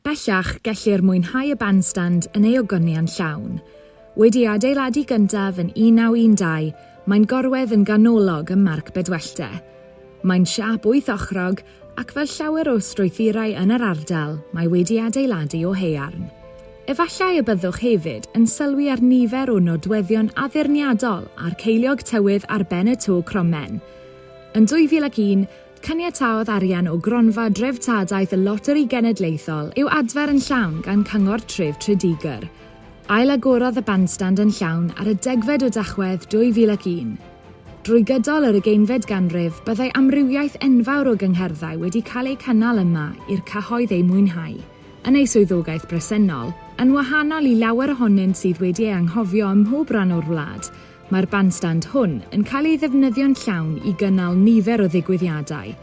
Bellach, gellir mwynhau y bandstand yn ei ogoniant llawn. Wedi ei adeiladu gyntaf yn 1912, mae'n gorwedd yn ganolog ym Marc Bedwellty. Mae'n siâp wyth ochrog, ac fel llawer o strwythurau yn yr ardal, mae wedi ei adeiladu o haearn. Efallai y byddwch hefyd yn sylwi ar nifer o nodweddion addurniadol a'r ceiliog tywydd ar ben y to cromen. Yn 2001, Caniataodd arian o Gronfa Dreftadaeth y Loteri Genedlaethol i'w adfer yn llawn gan Cyngor Tref Tredegar. Ailagorodd y bandstand yn llawn ar y degfed o Dachwedd 2001. Drwy gydol yr ugeinfed ganrif, byddai amrywiaeth enfawr o gyngherddau wedi cael eu cynnal yma i'r cyhoedd eu mwynhau, yn ei swyddogaeth bresennol, yn wahanol i lawer ohonynt sydd wedi ei anghofio ym mhob rhan o'r wlad, Mae'r bandstand hwn yn cael ei ddefnyddio'n llawn i gynnal nifer o ddigwyddiadau.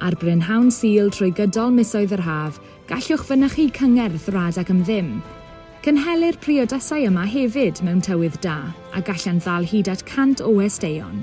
Ar brynhawn Sul trwy gydol misoedd yr haf, gallwch fynychu cyngerdd rad ac am ddim. Cynhelir priodasau yma hefyd mewn tywydd da, a gallant ddal hyd at 100 o westeion.